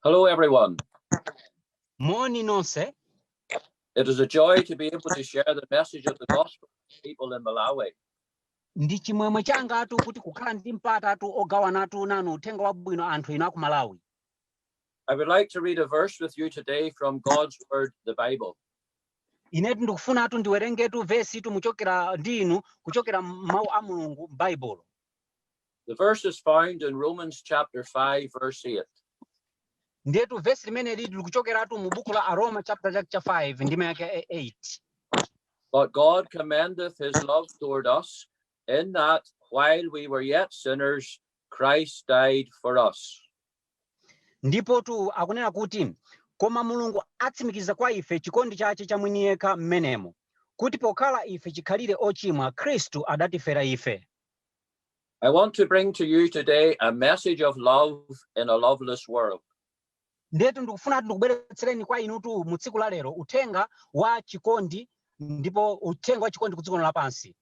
Hello, everyone. Moni nonse. It is a joy to be able to share the message of the gospel with people in Malawi. Ndi chimwemwe changatu kuti kukhala ndi mpatatu ogawanatu nanu uthenga wabwino anthu inu a ku Malawi. I would like to read a verse with you today from God's word, the Bible. Inetu ndikufunatu ndiwerengetu vesitu muchokera ndi inu kuchokera m'mawu a Mulungu m'Baibulo. The verse is found in Romans chapter 5, verse 8. ndetu vesi limenelitu likuchokeratu mu buku la aroma chapter 5 ndime yake 8 But God commendeth his love toward us, in that while we were yet sinners, Christ died for us. ndipotu akunena kuti koma mulungu atsimikiza kwa ife chikondi chache cha mwini yekha mmenemo kuti pokhala ife chikhalire ochimwa khristu adatifera ife I want to bring to you today a message of love in a loveless world. ndetu ndikufunatu ndikubweretsereni kwa inutu mu tsiku la lero uthenga wa chikondi ndipo uthenga wa chikondi ku dziko lino lapansi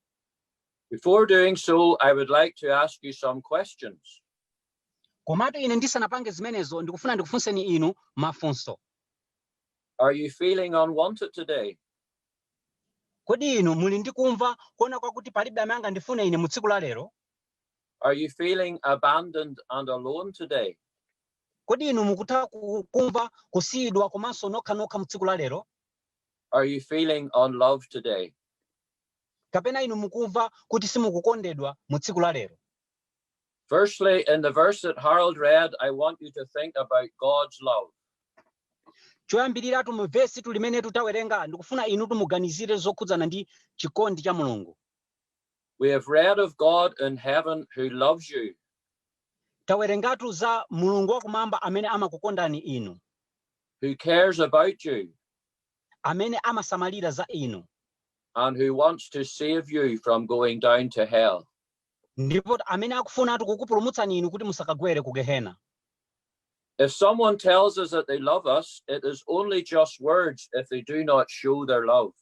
Before doing so, I would like to ask you some questions. komatu ine ndisanapange zimenezo ndikufuna ndikufunseni inu mafunso Are you feeling unwanted today? Kodi inu muli ndi kumva, kuona kwakuti palibe amene angandifune ine mu tsiku la lero? Are you feeling abandoned and alone today? Kodi inu mukutha ku, kumva kusiyidwa komanso nokha nokha mu tsiku la lero? Are you feeling unloved today? Kapena inu mukumva kuti simukukondedwa mu tsiku la lero? Firstly, in the verse that Harold read, I want you to think about God's love. choyambiriratu mu vesitu limenetu tawerenga ndikufuna inutu muganizire zokhudzana ndi chikondi cha mulungu We have read of God in heaven who loves you. tawerengatu za mulungu wakumwamba amene amakukondani inu who cares about you amene amasamalira za inu and who wants to save you from going down to hell. Ndipo amene akufunatu kukupulumutsani inu kuti musakagwere ku Gehena. If someone tells us that they love us, it is only just words if they do not show their love.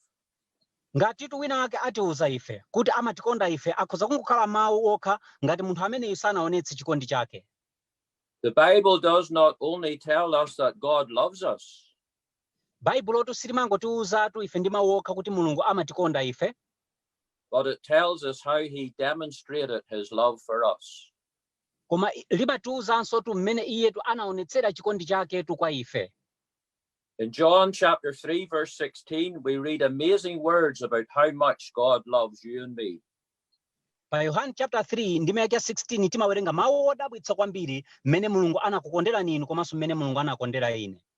Ngatitu wina wake atiuza ife kuti amatikonda ife, akhoza kungokhala mawu okha ngati munthu ameneyu sanaonetse chikondi chake. The Bible does not only tell us that God loves us, Baibulotu silimangotiuzatu ife ndi mawu okha kuti Mulungu amatikonda ife, but it tells us how he demonstrated his love for us. koma i- limatiwuzanso tu mmene iyetu anaonetsera chikondi chaketu kwa ife In John chapter 3, verse 16, we read amazing words about how much God loves you and me. pa yohane chapter 3 ndime yake ya 16 timawerenga mawu odabwitsa kwambiri mmene mulungu anakukonderani inu komanso mmene mulungu anakondera ine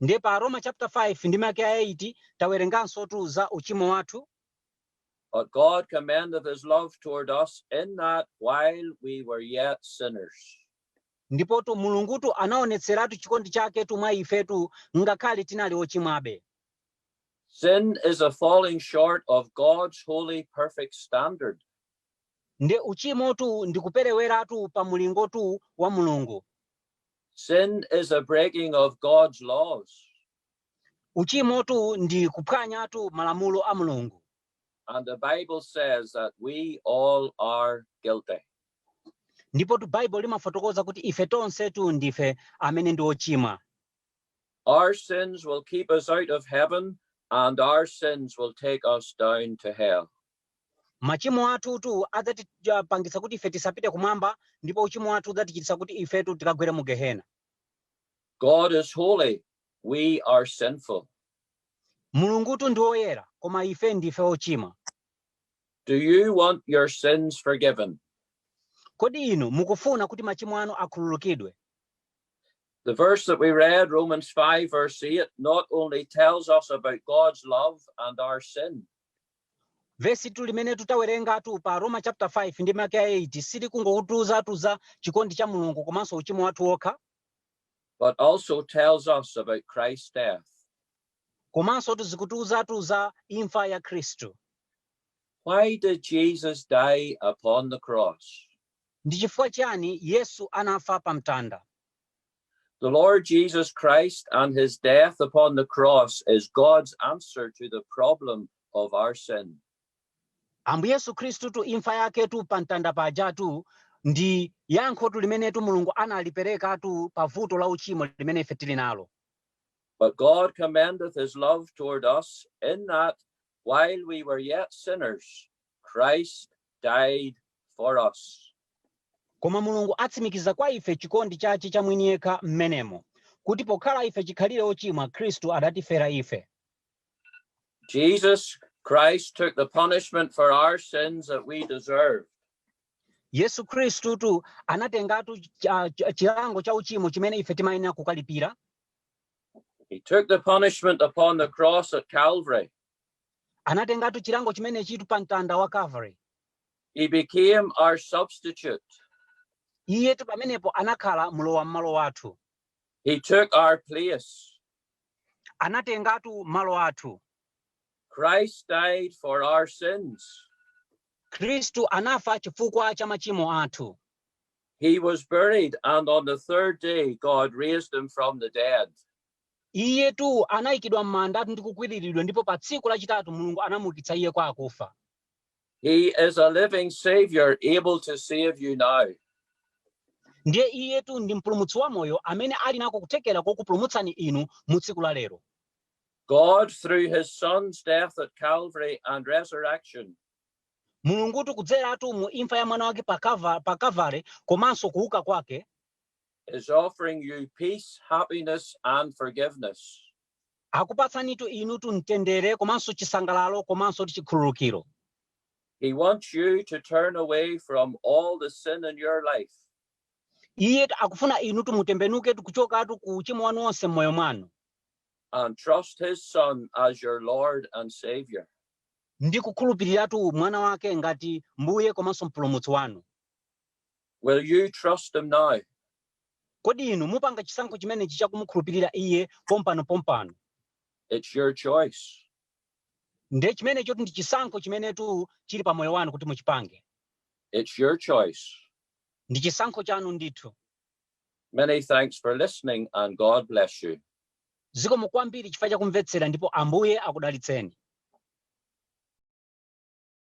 Ndiye pa Aroma chapter 5 ndime yake ya 8 tawerengansotu za uchimo wathu. But God commendeth his love toward us in that while we were yet sinners. Ndipotu Mulungutu anaonetseratu chikondi chaketu mwa ifetu ngakhale tinali ochimwabe. Sin is a falling short of God's holy perfect standard. Nde uchimotu ndi kupereweratu pa mulingotu wa Mulungu. Sin is a breaking of God's laws. Uchimotu ndi kuphwanyatu malamulo a Mulungu. And the Bible says that we all are guilty. Ndipotu Bible limafotokoza kuti ife tonsetu ndife amene ndi ochimwa. Our sins will keep us out of heaven and our sins will take us down to hell. Machimo athutu adzatipangitsa kuti ife tisapite kumwamba ndipo uchimo wathu udzatichititsa kuti ifetu tikagwere mu Gehena. God is holy, we are sinful. Mulungutu ndi woyera koma ife ndife ochimwa. Do you want your sins forgiven? Kodi inu mukufuna kuti machimo anu akhululukidwe? The verse that we read, Romans 5, verse 8, not only tells us about God's love and our sin, Vesitu limene tawerengatu pa Aroma chapter 5 ndime yake ya 8 silikungokutiuzatu za chikondi cha Mulungu komanso uchimo wathu wokha, but also tells us about Christ's death. komanso likutiuzatu za imfa ya Khristu. Why did Jesus die upon the cross? Ndi chifukwa chiyani Yesu anafa pa mtanda? The Lord Jesus Christ and his death upon the cross is God's answer to the problem of our sin. ambuye yesu khristutu imfa yaketu pa mtanda pajatu ndi yankhotu limenetu mulungu analiperekatu pa vuto la uchimo limene ife tili nalo But God commendeth his love toward us in that while we were yet sinners, Christ died for us. Koma Mulungu atsimikiza kwa ife chikondi chache cha mwini yekha m'menemo, kuti pokhala ife chikhalire ochimwa, Kristu adatifera ife. Jesus Christ took the punishment for our sins that we deserved. Yesu Kristutu anatengatu chilango cha uchimo chimene ife timayenera kukalipira. He took the punishment upon the cross at Calvary anatengatu chilango chimenechitu pa mtanda wa calvary He became our substitute. iyetu pamenepo anakhala mlowa mmalo wathu He took our place. anatengatu malo athu Christ died for our sins. khristu anafa chifukwa cha machimo athu He was buried, and on the third day, God raised him from the dead. Iyetu anayikidwa m'mandatu ndi kukwiriridwa ndipo pa tsiku lachitatu Mulungu anamuukitsa Iye kwa akufa. He is a living Savior able to save you now. Ndiye Iyetu ndi Mpulumutsi wamoyo amene ali nako kuthekera kokupulumutsani inu mu tsiku la lero. God, through His Son's death at Calvary and resurrection, Mulungutu kudzeratu mu imfa ya Mwana wake pa Kava- pa Kavale komanso kuuka kwake, is offering you peace, happiness, and forgiveness. akupatsanitu inutu mtendere komanso chisangalalo komanso kuti chikhululukiro He wants you to turn away from all the sin in your life iye akufuna inutu mutembenuketu kuchokatu ku uchimo wanu wonse m'moyo mwanu and trust His Son as your Lord and Savior. ndi kukhulupiriratu mwana wake ngati mbuye komanso mpulumutsi wanu Will you trust him now? Kodi inu mupanga chisankho chimenechi cha kumukhulupirira iye pompano pompano? It's your choice. Ndiye chimenechotu ndi chisankho chimenetu chili pa moyo wanu kuti muchipange. It's your choice. Ndi chisankho chanu ndithu. Many thanks for listening and God bless you. Zikomo kwambiri chifukwa cha kumvetsera ndipo Ambuye akudalitseni.